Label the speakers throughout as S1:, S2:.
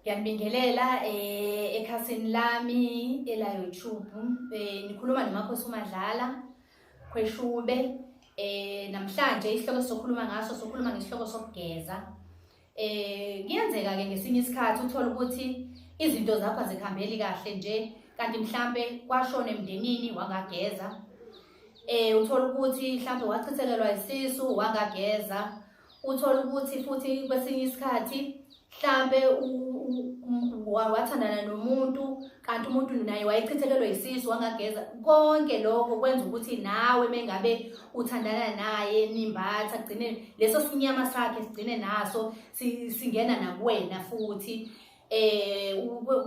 S1: Ngiyanibingelela eh ekhasini lami ela YouTube eh nikhuluma nomakhosi uMadlala khweshube eh namhlanje isihloko sokhuluma ngaso sokhuluma ngesihloko sokugeza eh kuyenzeka ke ngesinye isikhathi uthola ukuthi izinto zakho azikhambeli kahle nje kanti mhlambe kwashona emndenini wangageza eh uthola ukuthi mhlambe wachithekelwa isisu wangageza uthole ukuthi futhi kwesinye isikhathi mhlampe wathandana nomuntu kanti umuntu naye wayechithekelwe yisisu wangageza konke lokho kwenza ukuthi nawe mengabe uthandana naye nimbatha kugcine leso sinyama sakhe sigcine naso singena nakuwena futhi eh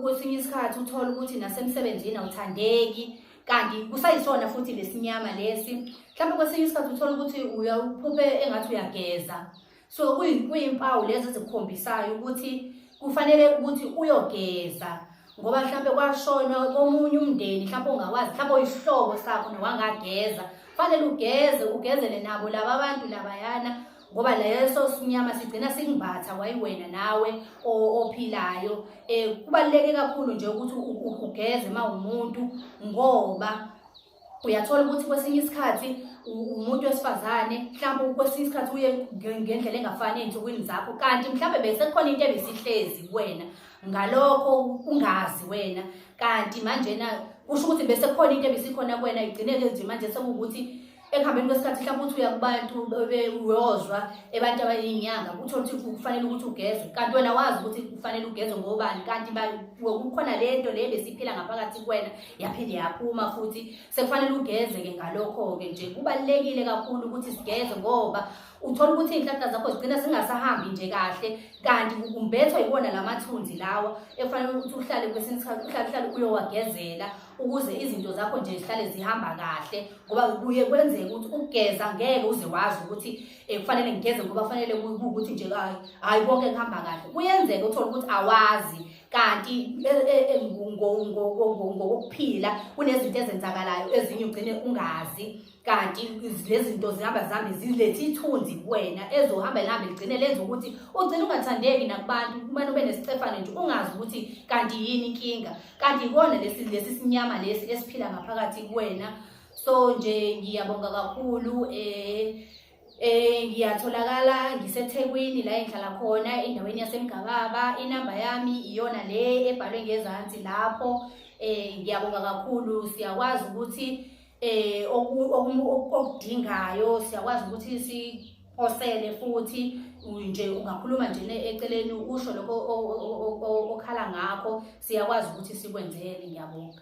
S1: kwesinye isikhathi uthola ukuthi nasemsebenzini awuthandeki kanti kusayisona futhi lesinyama lesi mhlawumbe kwesinye isikhathi uthola ukuthi uyaphuphe engathi uyageza so kuyimpawu lezi ezikukhombisayo ukuthi kufanele ukuthi uyogeza ngoba mhlawumbe kwashona komunye umndeni mhlawumbe ongawazi mhlawumbe oyisihlobo sakho nowangageza kufanele ugeze ugezele nabo laba abantu labayana ngoba leso sinyama sigcina singibatha kwayiwena nawe ophilayo um kubaluleke kakhulu nje ukuthi ugeze uma umuntu ngoba uyathola ukuthi kwesinye isikhathi umuntu wesifazane mhlawumbe kwesinye isikhathi uye ngendlela engafani ey'nsukwini zakho kanti mhlawumbe besekukhona into ebisihlezi kuwena ngalokho ungazi wena kanti manjena kusho ukuthi bese kukhona into ebisikhona kuwena igcineke nje manje sekuwukuthi ekuhambeni kwesikhathi mhlawumbe uthi uya kubantu uyozwa ebantu abayinyanga uthole ukuthi kufanele ukuthi ugezwe kanti wena wazi ukuthi kufanele ugezwe ngobani kanti kukhona le nto le besiphila ngaphakathi kuwena yaphinde yaphuma futhi sekufanele ugeze-ke ngalokho-ke nje kubalulekile kakhulu ukuthi sigeze ngoba uthola ukuthi iy'nhlahla zakho zigcina zingasahambi nje kahle kanti kumbethwa yiwona la mathunzi lawa ekufanele ukuthi uhlale kwesinye isikhathi uhlale uhlale uyowagezela ukuze izinto zakho nje zihlale zihamba kahle ngoba kuye kwenzeka ukuthi ukugeza ngeke uze wazi ukuthi um kufanele ngigeze ngoba kufanele kuwukuthi nje hayi hhayi konke kuhamba kahle kuyenzeka uthole ukuthi awazi kanti e, e, e, ngokokuphila kunezinto ezenzakalayo ezinye ugcine ungazi kanti lezinto zihamba zihambe zilethe ithunzi kuwena ezohamba lihambe ligcine lenza ukuthi ugcine ungathandeki nakubantu kumane ube nesicefane nje ungazi ukuthi kanti yini inkinga kanti ikona lesi lesi sinyama lesi esiphila ngaphakathi kuwena so nje ngiyabonga kakhulu eh eh ngiyatholakala ngiseThekwini la engihlala khona endaweni yaseMgababa inamba yami iyona le ebhalwe ngezansi lapho eh ngiyabonga kakhulu siyakwazi ukuthi eh okudingayo siyakwazi ukuthi siphosele futhi nje ungakhuluma nje eceleni usho lokho okhala ngakho siyakwazi ukuthi sikwenzele ngiyabonga